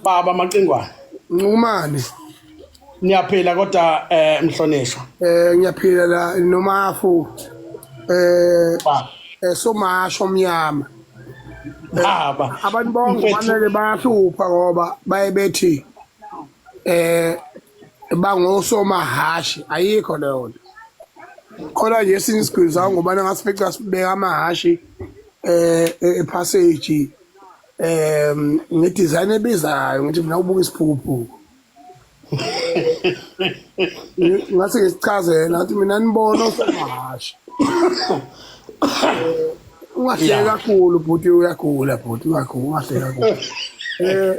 baba amaqingwana nqumane niyaphila kodwa eh mhlonishwa eh ngiyaphila la nomafu eh eh somasho omnyama baba abantu bonke fanele bahlupha ngoba baye bethi eh bangosomahashi ayikho leyo nto khona nje esinye isigwili sawo ngobana ngasifica sibeka amahashi eh, eh epassage um ngidesign ebizayo ngithi mina ubuka isiphukuphuku ngase ngisichazela ngathi mina nibona osomahasha ungahleki kakhulu bhuti uyagula bhuti ungagula ungahleki kakhulu um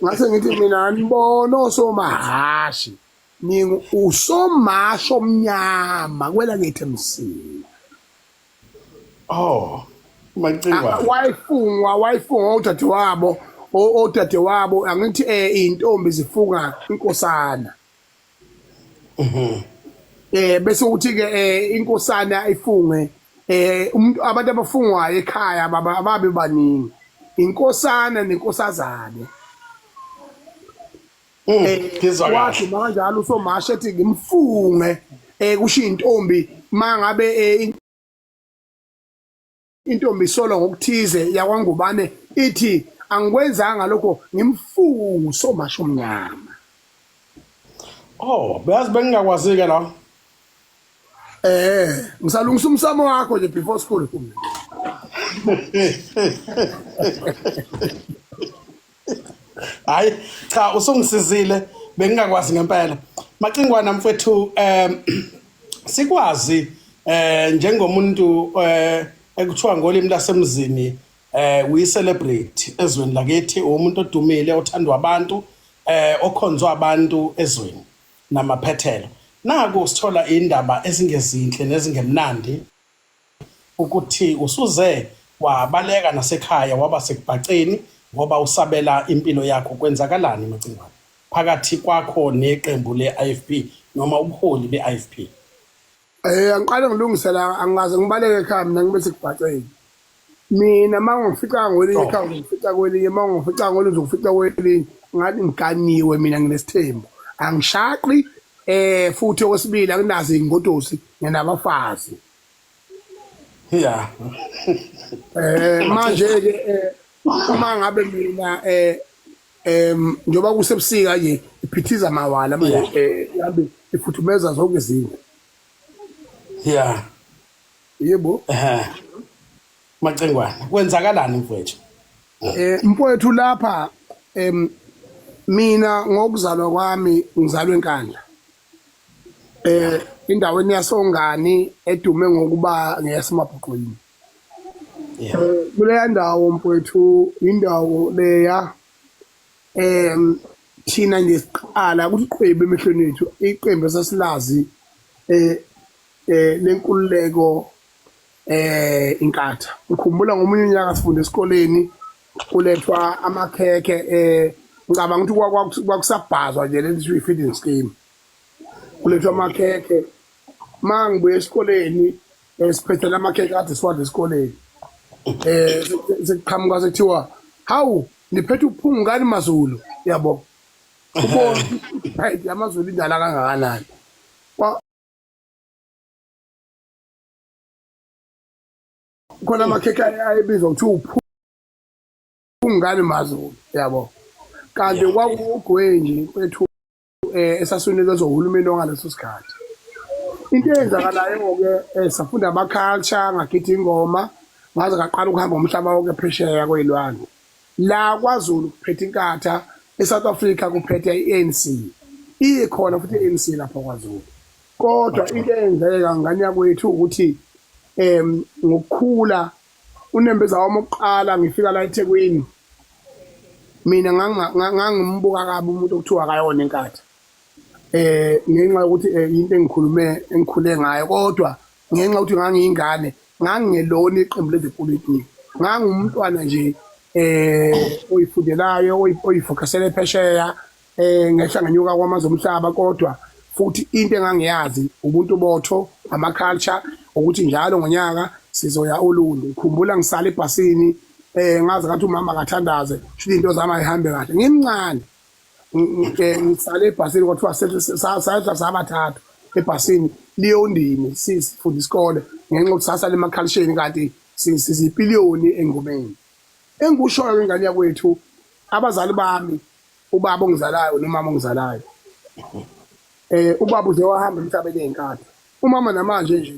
ngase ngithi mina nibona osomahashi ningu usomasho omnyama kwela ngithi msini Oh, Macingwane. Ah, wayefungwa wayefungwa udadewabo odadewabo angithi eh intombi zifunga inkosana mhm. eh bese uthi ke eh, inkosana ifunge eh umuntu abantu abafungwayo ekhaya baba ababe baningi inkosana nenkosazane Mm, eh ngizwa kahle. wathi makanjalo usomasha ethi ngimfunge eh kushiya intombi mangabe eh, in- intombi isolwa ngokuthize yakwangubane ithi angikwenzanga lokho ngimfunge usomasha omnyama Oh, beyazi bengingakwazi ke la. eh ngisalungisa umsamo wakho nje before school hayi cha usungisizile bengingakwazi ngempela macingwana mfethu um sikwazi eh njengomuntu eh ekuthiwa ngolimi lasemzini eh we celebrate ezweni lakithi umuntu odumile othandwa abantu eh okhonzwa abantu ezweni namaphethelo naku sithola indaba ezingezinhle nezingemnandi ukuthi usuze wabaleka nasekhaya waba sekubhaceni ngoba usabela impilo yakho kwenzakalani Macingwane phakathi kwakho neqembu leIFP noma ubuholi beIFP? Eh angiqale ngilungise la angikaze ngibaleke ekhaya mina ngibe sekubhaceni. mina uma ngifica ngolunye ikhaya ngifica kwelinye uma ngifica ngolunye ngifica kwelinye ngathi ngiganiwe mina nginesithembu angishaqi eh futhi okwesibili akunazi ingodosi ngenabafazi ya eh manje ke eh, uma ngabe mina eh em njoba kusebusika nje iphithiza mawala manje eh ifuthumeza zonke izinto ya Yebo. Ehhe. Macengwana, kwenzakalani mfowethu? Eh mfowethu lapha em mina ngokuzalwa kwami ngizalwe eNkandla. Eh indaweni yasongani edume ngokuba ngeyasemabhuqwini. Yeah. Kuleya ndawo mfowethu indawo leya em thina nje siqala ukuthi qhwebe emehlweni ethu iqembu esasilazi eh eh lenkululeko eh inkatha ngikhumbula ngomunye unyaka sifunde esikoleni kulethwa amakhekhe eh ngicabanga ukuthi kwakusabhazwa nje lento kuthiwa i-feeding scheme kulethwa amakhekhe uma ngibuye esikoleni um siphethela amakhekhe ade siwadla esikoleni um sekuqhamuka sekuthiwa hawu niphethe uphungukani mazulu yabo ubona amazulu indala kangakanani khona amakhekhe ayebizwa kuthiwa uphungani mazulu yabo kanti kwakuwugwenji kwethu um eh, esasunikezwa uhulumeni ongaleso sikhathi into eyenzakalayo-ke um safunda ama-culture ngagithi ingoma ngaze ngaqala ukuhamba umhlaba wonke phesheya kwey'lwandle La kwaZulu kuphethe iNkatha, eSouth Africa kuphethe i-ANC. Ikhona futhi i-ANC lapha kwaZulu. Kodwa into eyenzeka ngane yakwethu ukuthi em ngokukhula unembeza wami oqala ngifika la eThekwini mina ngangimbuka kabi umuntu okuthiwa akayona iNkatha. eh ngenxa yokuthi eh, into engikhulume engikhule ngayo kodwa ngenxa yokuthi ngangiyingane ngangingelona iqembu lezepolitiki ngangumntwana nje eh oyifundelayo oyifokasele phesheya eh ngehla ngenyuka kwamazwe omhlaba kodwa futhi into engangiyazi ubuntu botho ama culture ukuthi njalo ngonyaka sizoya olundi ngikhumbula ngisala ebhasini eh ngazi ngathi umama akathandaze shilo into zami ayihambe kahle ngimncane ngisale ebhasini kwathiwa sadla sabathathu ebhasini liyondini sifunda isikole ngenxa yokuthi sasala emakhalisheni kanti sizipiliyoni engomeni engikushoyo ingane yakwethu abazali bami ubaba ongizalayo nomama ongizalayo eh ubaba uze wahamba emhlabeni ezinkatha umama namanje nje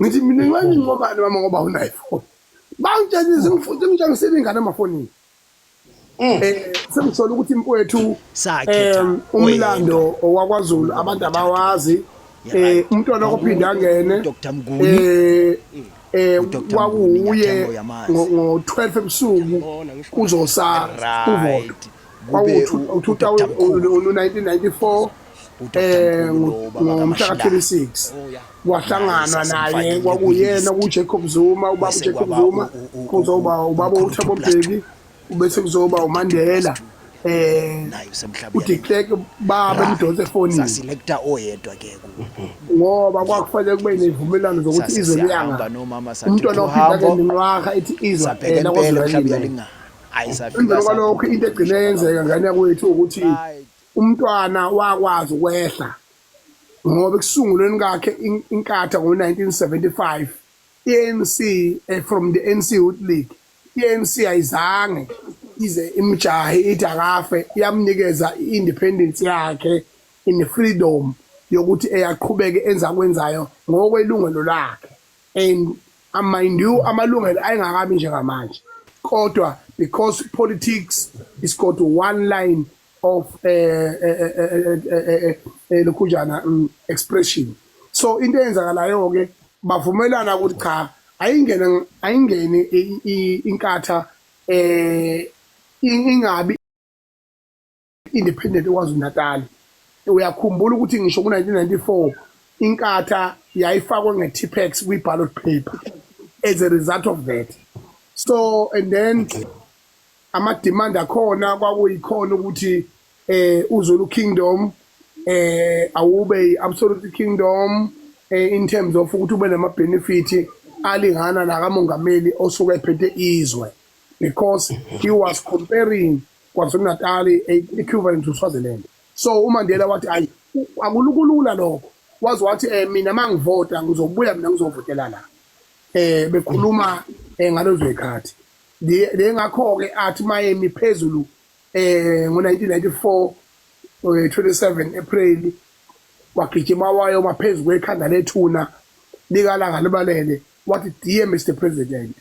ngithi mina ngiwenye inqobane mama ngoba unayiphone bangitshela izingifuthi ngitshengisile ingane emafonini um sengisole ukuthi mfowethu um umlando wakwazulu abantu abawazi um umntwana ophinde angene um eh kwakuye ngo-12 ebusuku kuzosala uvodo kwawu-1994 eh ngomhla ka-26 kwahlanganwa naye kwakuyena kuJacob Zuma ubaba uJacob Zuma kuzoba ubaba uThabo Mbeki ubese kuzoba uMandela eh uthi cleck baba emdonse efonini saselector oyedwa ke ngoba kwakufanele kube nezivumelwano zokuthi izwe liyanga umntwana ophinda ke nenqwaha ithi izwe phela kodwa linganga emveni kwalokho into egcine yenzeka ngane yakwethu ukuthi umntwana wakwazi ukwehla ngoba ekusungulweni kakhe inkatha ngo-1975 i-anc eh, from the anc youth league i-anc ayizange ize imjahe ithi akafe iyamnikeza i-independence yakhe in freedom yokuthi eyaqhubeke enza kwenzayo ngokwelungelo lakhe and I mind you amalungelo ayengakabi njengamanje kodwa because politics is got one line of lokhunjana expression so into eyenzakalayo ke bavumelana ukuthi cha ayingene ayingene inkatha eh ingabi Independent KwaZulu-Natal. Uyakhumbula ukuthi ngisho ku-1994 iNkatha yayifakwe nge-Tippex kwi-ballot paper as a result of that. So and then ama-demand akhona kwakuyikhona ukuthi eh uZulu Kingdom eh awube i-absolute kingdom eh, in terms of ukuthi ube nama-benefit alingana nakamongameli osuke ephethe izwe because he was comparing KwaZulu-Natal, i-equivalent to Swaziland. So uMandela wathi ayi akulukulula lokho. Waze wathi eh mina mangivota ngizobuya mina ngizovotela la. Eh bekhuluma eh, ngalezo zikhathi. Le ngakho ke athi mayemi phezulu eh ngo-1994 27 April wagijima wayo maphezulu kwekhanda lethuna likalanga libalele wathi dear Mr President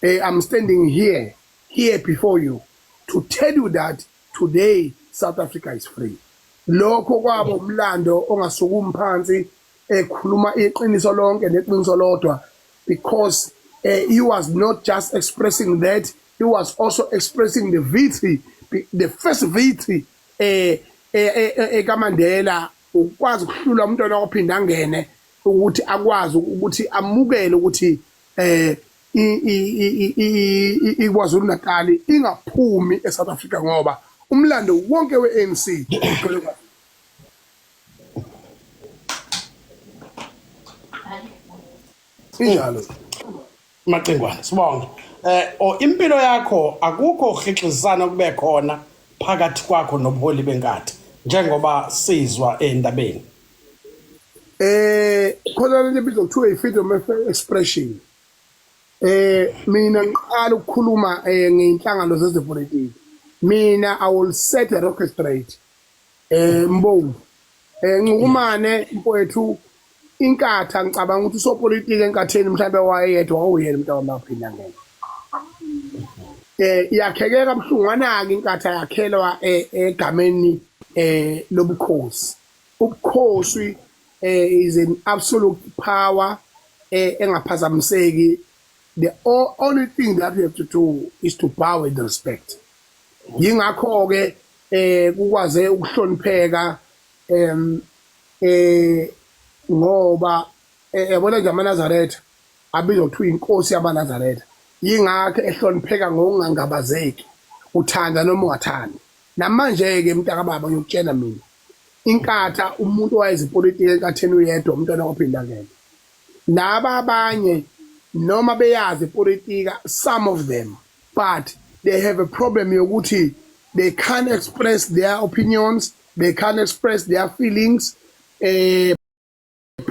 eh, I'm standing here here before you to tell you that today South Africa is free lokho kwaba umlando ongasukumi phansi ekhuluma iqiniso lonke neqiniso lodwa because uh, he was not just expressing that he was also expressing the victory the first victory eh ekamandela eh, eh, ukwazi ukuhlula umntwana ophinda angene ukuthi akwazi ukuthi amukele ukuthi eh iKwaZulu Natal ingaphumi eSouth Africa ngoba umlando wonke we-ANC ugcwele kwaZulu. Injalo. Macingwane sibonge. Eh o impilo yakho akukho uhlixizana kube khona phakathi kwakho nobuholi benkathi njengoba sizwa endabeni. eh khona lento ebizwa kuthiwa i-freedom of expression eh mina ngiqala ukukhuluma eh ngeinhlangano zezepolitiki mina i will set a rocket straight eh mbongo eh ncukumane mfowethu inkatha ngicabanga ukuthi usopolitiki enkatheni mhlawumbe wayeyedwa wawuyena umuntu wamaphinda ngeke eh iyakheke kabuhlungu anaki inkatha yakhelwa eh, egameni eh lobukhosi Ubukhosi is an absolute power engaphazamiseki the only thing that you have to do is to bow and respect yingakho ke eh kukwaze ukuhlonipheka em eh ngoba eh, yabona nje amaNazaretha abizwa kuthiwa inkosi yamaNazaretha yingakho ehlonipheka ngokungangabazeki uthanda noma ungathandi namanje ke mntaka baba uyokutshela mina inkatha umuntu owayezipolitiki enkatheni uyedwa umntwana kwaphindangene laba abanye noma beyazi ipolitika some of them but they have a problem yokuthi they can't express their opinions they can't express their feelings eh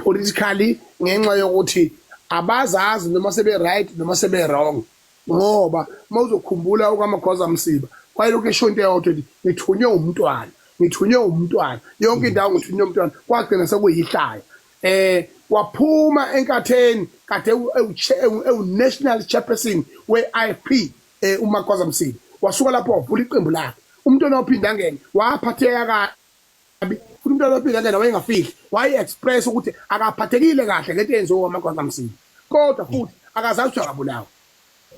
politically ngenxa yokuthi abazazi noma sebe right noma sebe wrong ngoba mawuzokhumbula ukaMagwaza Msiba wayelokhu esho into eyodwa ukuthi ngithunywe umntwana ngithunywe umntwana yonke mm. indawo ngithunywe umntwana kwagcina sekuyihlaya eh waphuma enkatheni kade ewu-national chairperson we-ifp um eh, umagwaza msiba wasuka lapho wavula iqembu lakhe umntwana waphinde angene waphatheka kabi futhi umntwana wabingelela wayengafihli waye-express ukuthi akaphathekile kahle ngento eyenziwe wamagwazamsini kodwa futhi akazazi ukuthi akabulawa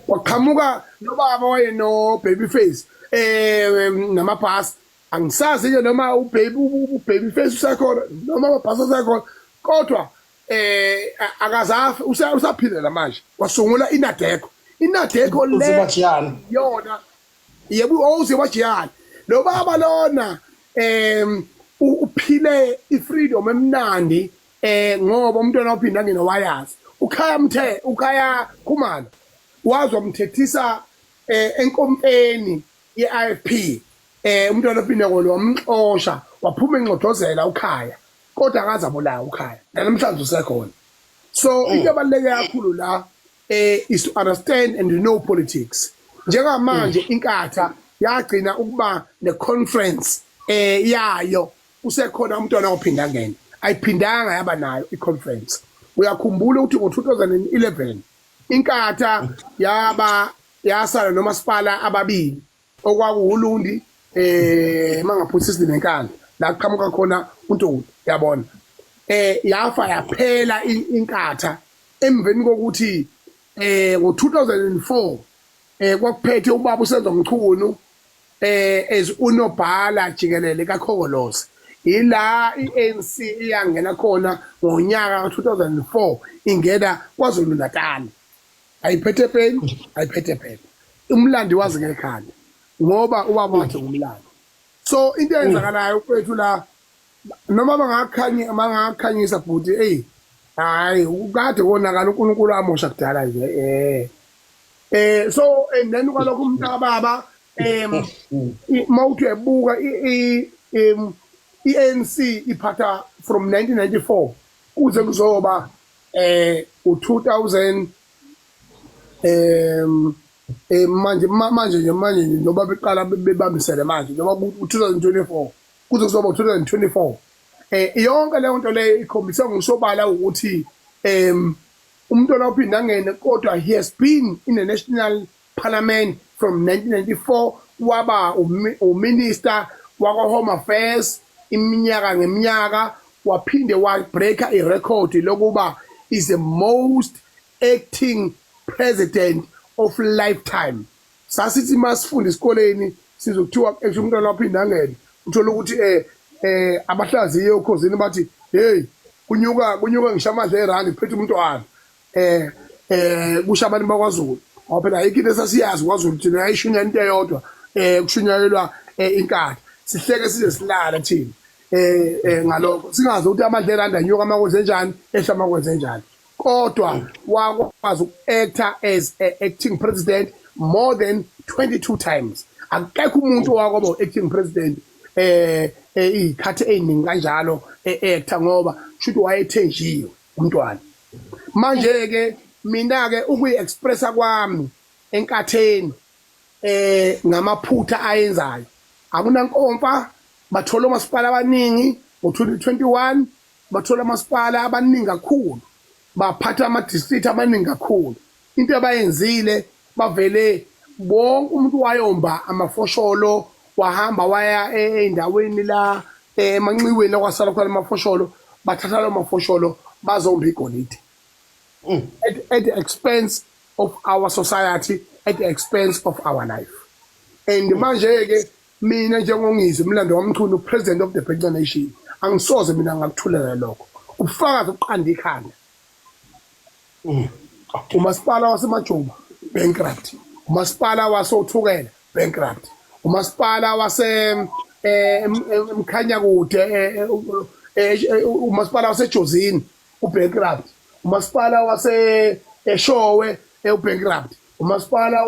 kwaqhamuka nobaba wayeno-baby face um namabhasi angisazi-ke noma ubaby face usekhona noma amabhasi asekhona kodwa um akazafi usaphilela manje kwasungula inadeko inadeko leyona Yebo uze wajiyana. Lo baba lona em uphile ifreedom emnandi eh ngoba umntwana ophinda ngene wayazi. Ukhaya mthe ukhaya khumalo wazwa mthethisa eh enkompeni ye-IFP eh umntwana ophinda ngolo wamxosha waphuma enxodozela ukhaya kodwa akaza bulawa ukhaya. Namhlanje usekhona. So into ebaluleke kakhulu la eh is to understand and know politics njengamanje mm. inkatha yagcina ukuba ne conference eh yayo usekhona umntwana ophinda ngene ayiphindanga yaba nayo i conference uyakhumbula ukuthi ngo2011 inkatha yaba yasala nomasipala ababili okwakuwulundi eh mangaphutha isizini enkandla la kuqhamuka khona uNtuli yabona eh yafa yaphela inkatha emveni kokuthi eh ngo2004 eh kwakuphethe ubaba usenzo mchunu eh as unobhala jikelele kaKhokolosi ila iANC iyangena khona ngonyaka ka2004 ingena kwaZulu Natal ayiphethe peni ayiphethe phela umlandi wazi ngekhanda ngoba ubaba wakhe ngumlandi so into eyenzakalayo kwethu la noma bangakhanye bangakhanyisa bhuti eyi hayi kade konakala unkulunkulu amosha kudala nje eh eh so and then kwalokho umntakababa um uma uthi uyabuka i-anc iphatha from 1994 kuze kuzoba eh u2000 em eh manje manje nje manje nje njengoba beqala bebambisene manje njengoba ku-2024 kuze kuzoba u-2024 eh yonke leyo nto leyo ikhombisa ngosobala ukuthi em umntwana uphinde angene kodwa he has been in a national Parliament from 1994 waba uMinister wakwa-Home Affairs iminyaka ngeminyaka waphinde wa-breaker irekhodi lokuba is the most acting president of lifetime. Sasithi uma sifunda esikoleni sizwe kuthiwa esho umntwana waphinde angene uthole ukuthi um um abahlaziye okhozini bathi heyi kunyuka kunyuka ngisho amadla erandi kuphethe umntwana eh eh kusho abantu bakwaZulu ngoba phela ayikho into esasiyazi kwaZulu thina yayishunya into eyodwa eh kushunyayelwa eh, inkatha sihleke size silala thina eh, eh ngalokho singazi ukuthi amadle elanda nyuka amakwenze njani ehla amakwenze njani kodwa wakwazi uku-actor as a acting president more than 22 times akekho umuntu owakwaba u-acting president eh, eh iy'khathi ey'ningi kanjalo e-actor ngoba kusho ukuthi wayethenjiwe umntwana manje ke mina ke ukuyi expressa kwami enkatheni eh ngamaphutha ayenzayo akunankomfa bathola omasipala abaningi ngo-2021 bathola amasipala abaningi kakhulu baphatha ama-district amaningi kakhulu into abayenzile bavele wonke umuntu wayomba amafosholo wahamba waya endaweni la emanxiweni la kwasala khona amafosholo bathatha lawo mafosholo bazomba igolide mm. at, at the expense of our society at the expense of our life and mm. manje-ke mina njengongizwe umlando wamchunu president of the Bank Nation angisoze mina ngakuthulela lokho ubufakazi ukuqanda ikhanda Umasipala waseMajuba, bankrupt. Umasipala wasoThukela, bankrupt. Umasipala wase eh, Mkhanyakude eh, eh, eh, umasipala waseJozini ubankrupt. Umasipala wase Eshowe eh, ubankrupt. Umasipala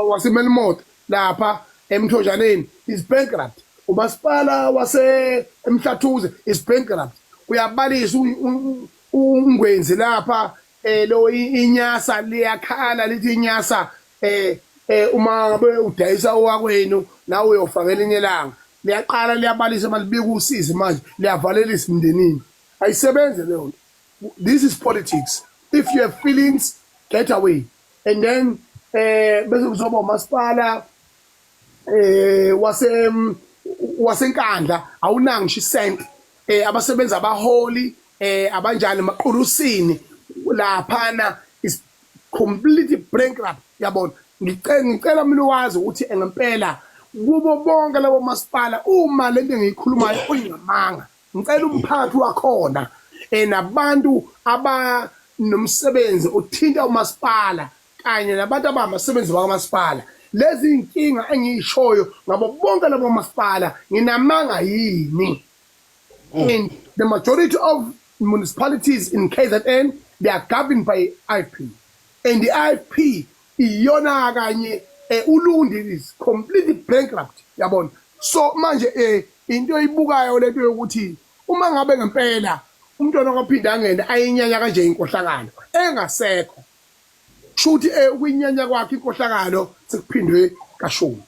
waseMelmoth lapha eMthonjaneni is bankrupt. Umasipala waseMhlathuze is bankrupt. Uyabalisa uNgwenzi lapha eh lo inyasa liyakhala lithi inyasa eh eh uma be udayisa owakwenu nawe uyofaka elinye langa liyaqala liyabalisa malibika usizi manje liyavalelisa imndenini ayisebenze leyo nto This is politics if you have feelings get away and then eh bese kuzoba umasipala eh wase wasenkandla awunanga ngisho isent eh abasebenza abaholi eh abanjani maqulusini laphana is completely bankrupt yabona ngicela ngicela mina wazi ukuthi ngempela kubo bonke labo masipala uma lento engiyikhulumayo uyingamanga Ngicela umphathi wakhona eh, nabantu abanomsebenzi othinta umasipala kanye nabantu abamasebenzi bakamasipala lezi iy'nkinga engiyishoyo ngabo bonke labo masipala nginamanga yini mm. and the majority of municipalities in kzn they are governed by ifp and the ifp Iyona kanye eh, uLundi is completely bankrupt yabona. So manje eh, into eyibukayo lento yokuthi uma ngabe ngempela umntwana kwaphinde angene ayinyanya kanje inkohlakalo engasekho shuthi eh, ukuyinyanya kwakhe inkohlakalo sekuphindwe kashumi.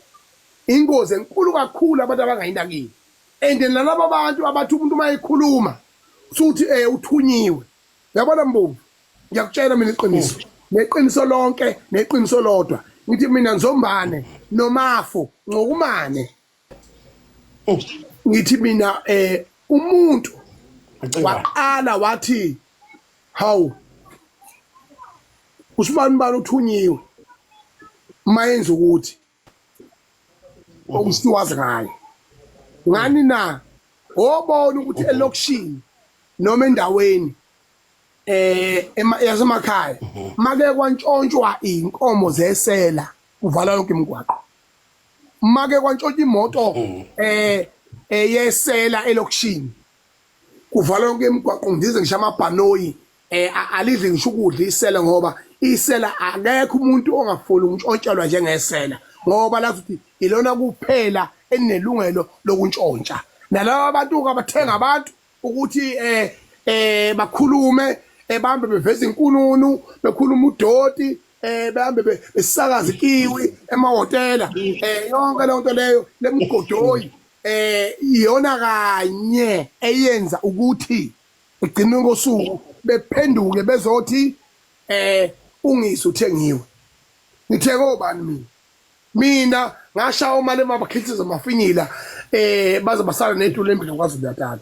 Ingozi enkulu kakhulu abantu abangayinakile and nalaba bantu abathi umuntu uma ekhuluma suthi eh, uthunyiwe yabona mbumbi ngiyakutshela mina iqiniso neqiniso lonke neqiniso lodwa ngithi mina nzombane nomafo ngokumane ngithi mina eh umuntu waqala wathi hawu usibani bani uthunyiwe mayenza ukuthi okusiwazi ngayo ngani na obona ukuthi elokishini noma endaweni eh yasemakhaya mhm. make kwantshontshwa inkomo zesela kuvala yonke imigwaqo make kwantshontshwa imoto mhm. eh eyesela elokishini kuvala yonke imigwaqo ngize ngisha amabhanoyi eh alidli ngisho ukudla isela ngoba isela akekho umuntu ongafuni ukuntshotshelwa njengesela ngoba lathi ukuthi ilona kuphela enelungelo lokuntshontsha nalabo abantu abathenga abantu ukuthi eh eh bakhulume ebambe eh, beveza inkununu bekhuluma udoti eh behambe besakaza ikiwi emahotela eh yonke le nto leyo lemgodoyi eh iyona kanye eyenza ukuthi Igcine ngosuku bephenduke bezothi eh ungisi uthengiwe. Ngithe kobani mina? Mina ngashawa umali emabakhithiza mafinyila eh baze basala netulo embili kwaZulu Natal.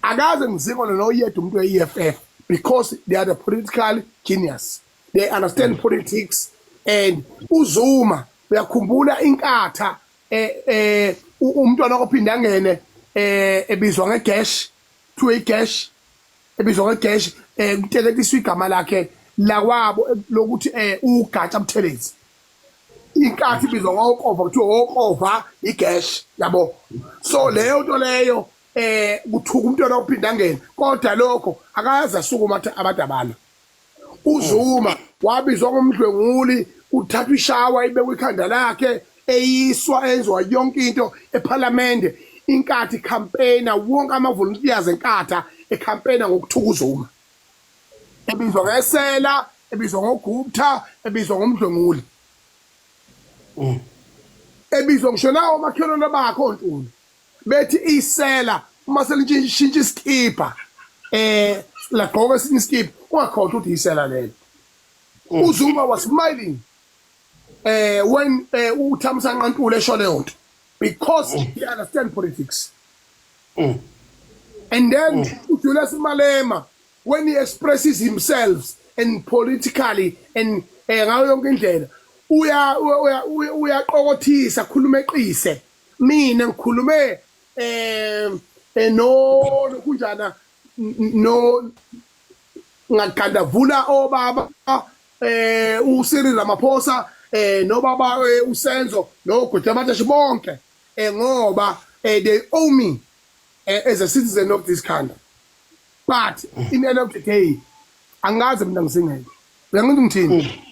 Akaze ngizikho lona oyedwa umuntu we-EFF because they are the political genius. They understand politics and uZuma uyakhumbula inkatha eh eh u- umntwana ophinde angene eh ebizwa ngegash kuthiwe igesh ebizwa ngegesh um eh, kuteletiswa igama lakhe lakwabo eh, lokuthi um ugatsha buthelezi inkathi ibizwa ngokova kuthiwa wokova igesh yabo so leyo nto leyo eh kuthuka umntwana ophindangeni kodwa lokho akayazi asukuma abantu abalo UZuma wabizwa ngomdlwenguli, kuthathwa ishawa ibekwa ikhanda lakhe, eyiswa, enziwa yonke into ePhalamende, inkathi ikhampeyina, wonke amavoluntiyazi eNkatha ekhampeyina ngokuthuka uZuma. Ebizwa ngesela, ebizwa ngoGupta, ebizwa ngomdlwenguli. Ebizwa ngisho nawomakhelwane bakhe oNtuli. bethi isela uma selishintsha isikibha eh lagqoka esinye isikibha ungakhohlwa ukuthi isela lelo mm. uzuma was smiling eh when eh, uthamisa nqantule esho leyo nto because mm. he understand politics mm. and then mm. uJulius Malema when he expresses himself and politically and eh, ngayo yonke indlela uya uyaqokothisa khuluma eqise mina ngikhulume eh, eh no kunjana no ngagandavula obaba eh uSiri Ramaphosa eh nobaba eh, uSenzo noGuti abathashe bonke eh ngoba eh, they owe me eh, as a citizen of this country but in the end of the day angazi mina ngisingeke uyangithi ngithini mm.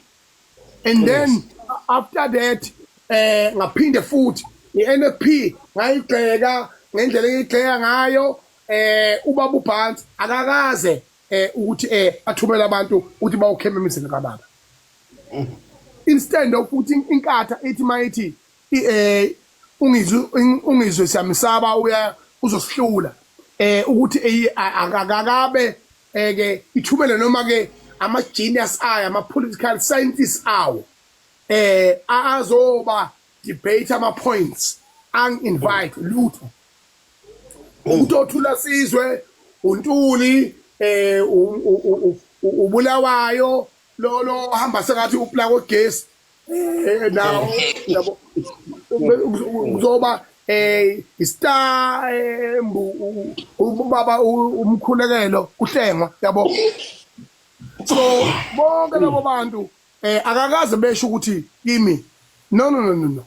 and then yes. after that eh ngaphinde futhi iNFP ngayigxeka ngendlela eyigxeka ngayo eh ubaba uBhantsi akakaze eh ukuthi eh athumela abantu ukuthi bawukhema emizini kababa instead of ukuthi inkatha ithi mayithi eh ungizwe ungizwe siyamsaba uya uzosihlula eh ukuthi akakabe eh ke ithumele noma ke ama genius ayo ama political scientists awo eh azoba debate ama points ang invite lutho umuntu othula sizwe untuli eh ubulawayo lo lo hamba sengathi uplako gesi Eh, nawo yabo kuzoba eh istar eh, mbu- u- u- ubaba u- umkhulekelo kuhlengwa yabo so bonke labo bantu eh akakaze besho ukuthi kimi no no no no no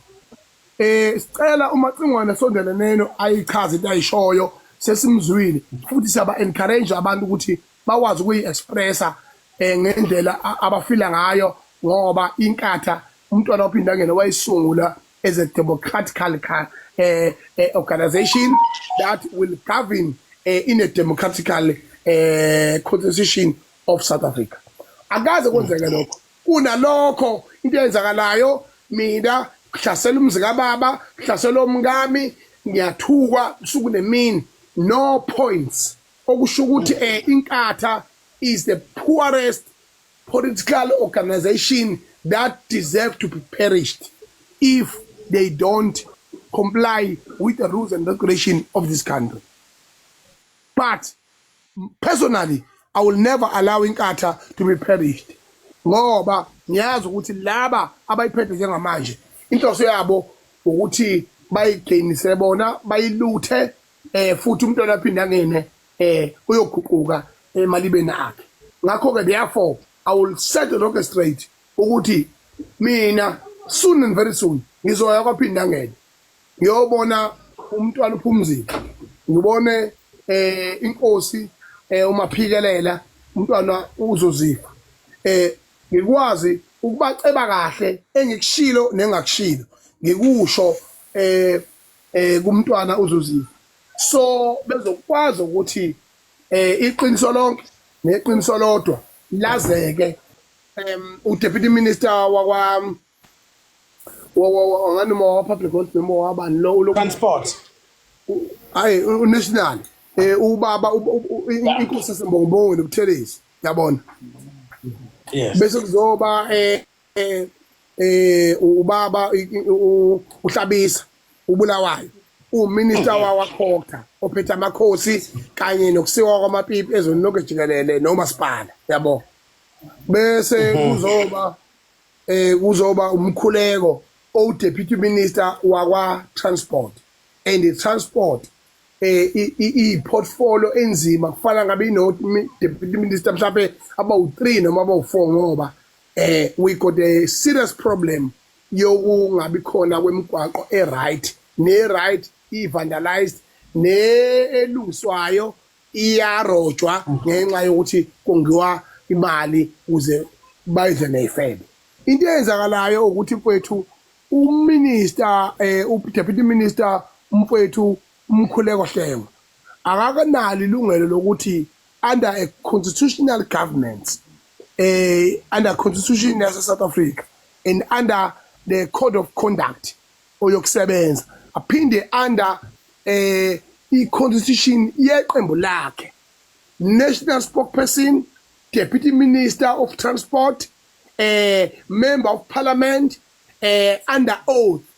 eh sicela umacingwane sondeleneno ayichaze into ayishoyo sesimzwile futhi siyaba encourage abantu ukuthi bakwazi ukuyi-expressa um ngendlela abafila ngayo ngoba inkatha umntwana opindangene wayisungula as a democratical um eh, eh, organization that will govern uh, in a democratical uh, constitution of south africa akaze kwenzeke lokho kunalokho into eyenzakalayo mina kuhlasela umzi kababa kuhlasela omkami ngiyathukwa usuku nemini no points Okusho ukuthi um Inkatha is the poorest political organisation that deserve to be perished if they don't comply with the rules and regulation of this country. But personally I will never allow Inkatha to be perished ngoba ngiyazi ukuthi laba abayiphethe njengamanje inhloso yabo ukuthi bayigainise bona bayiluthe eh futhi umntwana aphinde angene eh uyoguquka emalibeni akhe ngakho ke therefore i will set the rocket straight ukuthi mina soon and very soon ngizoya kwaphinde angene ngiyobona umntwana uphumzile ngibone eh inkosi eh umaphikelela umntwana uzozifa eh ngikwazi ukubaceba kahle engikushilo nengakushilo ngikusho eh eh kumntwana uzuziva so bezokwazi ukuthi eh iqiniso lonke neqiniso lodwa lazeke um udeputy minister wakwa ngani uma wapublic health noma wabani lo ulo transport hayi unational eh ubaba inkosi sembongbongo nobuthelezi yabona bese kuzoba eh eh eh ubaba uhlabisa ubulawayo uminister mm. wawakhokha ophethe amakhosi kanye nokusiwa kwamapipi ezweni lonke jikelele nomasipala yabo bese mm-hmm. kuzoba eh kuzoba umkhuleko o deputy minister wakwa transport and the transport eh i portfolio enzima kufana ngabe ino deputy minister mhlawumbe abawu3 noma abawu4 ngoba eh we got a serious problem yokungabi khona kwemigwaqo e right ne right i vandalized ne elungiswayo iyarojwa ngenxa yokuthi kongiwa imali kuze bayidle neyifebe into eyenzakalayo ukuthi mfowethu uminister eh udeputy minister umfowethu UMkhuleko Hlengwa akakanalo ilungelo lokuthi under a constitutional government, a under constitution yase South Africa and under the code of conduct oyokusebenza aphinde under eh i-constitution yeqembu lakhe national spokesperson deputy minister of transport eh member of parliament eh under oath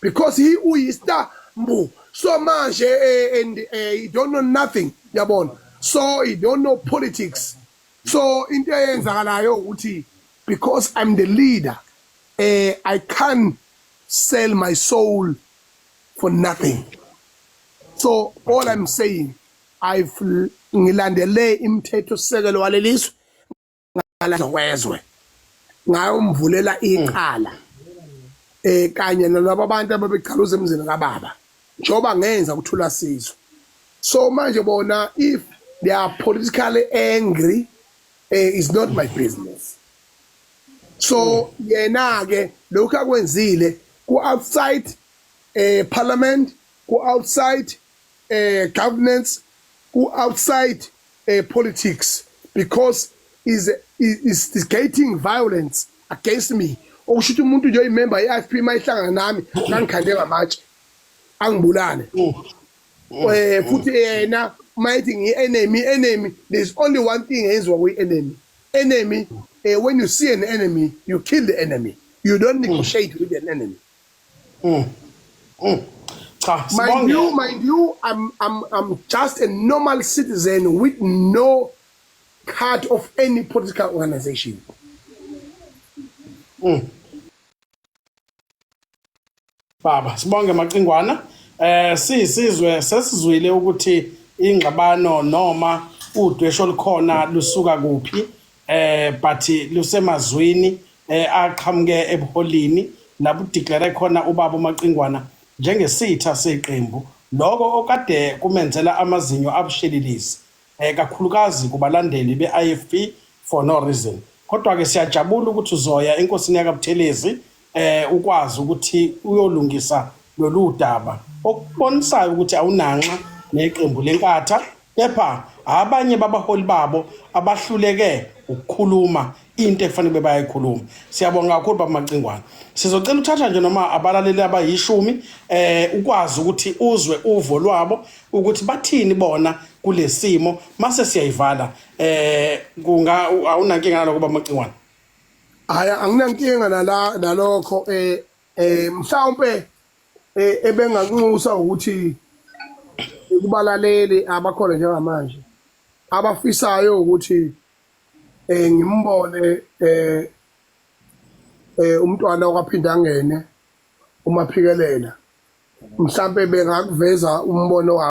because he uyista mbu so manje uh, and uh, he don't know nothing yabona so he don't know politics so into eyenzakalayo ukuthi because i'm the leader uh, i can't sell my soul for nothing so all i'm saying i've ngilandele imthetho sisekelo walelizwe ngalahlwa kwezwe ngayomvulela iqala eh kanye nalabo abantu ababegcaluza emzini kababa njengoba ngenza ukuthula sizwe so manje bona if they are politically angry eh, is not my business so yena ke lokho akwenzile ku outside eh parliament ku outside governance ku outside politics because is instigating violence against me okusho ukuthi umuntu nje oyimember ye-IFP uma ihlangana nami kangikhande ngamatshe angibulale eh futhi yena uma ethi ngiyi-enemy enemy there is only one thing eyenziwa kuyi-enemy enemy uh, when you see an enemy you kill the enemy you don't negotiate with an enemy Cha, Mind sibonge. you, mind you, I'm, I'm, I'm just a normal citizen with no card of any political organization. Baba, sibonge Macingwana. Eh siyisizwe sesizwile ukuthi ingxabano noma udwesho olukhona lusuka kuphi. eh but lusemazwini eh aqhamuke ebuholini lapho declare khona ubaba uMaqingwana njengesitha seqembu lokho okade kumenzela amazinyo abushelilisi eh kakhulukazi kubalandeli beIFP for no reason kodwa ke siyajabula ukuthi uzoya enkosini yakabuthelezi eh ukwazi ukuthi uyolungisa lolu daba okubonisayo ukuthi awunanxa neqembu lenkatha kepha abanye babaholi babo abahluleke ukukhuluma into ekufanele bayayikhuluma siyabonga kakhulu baba Macingwane sizocela uthatha nje noma abalaleli abayishumi eh ukwazi ukuthi uzwe uvo lwabo ukuthi bathini bona kulesimo mase siyayivala eh kunga awunankinga naloko baba Macingwane hayi anginankinga nala nalokho eh eh mhlawumbe eh, ebengakunxusa ukuthi kubalaleli abakhona njengamanje abafisayo ukuthi eh ngimbone eh eh umntwana okwaphinda ngene umaphikelela mhlambe bengakuveza umbono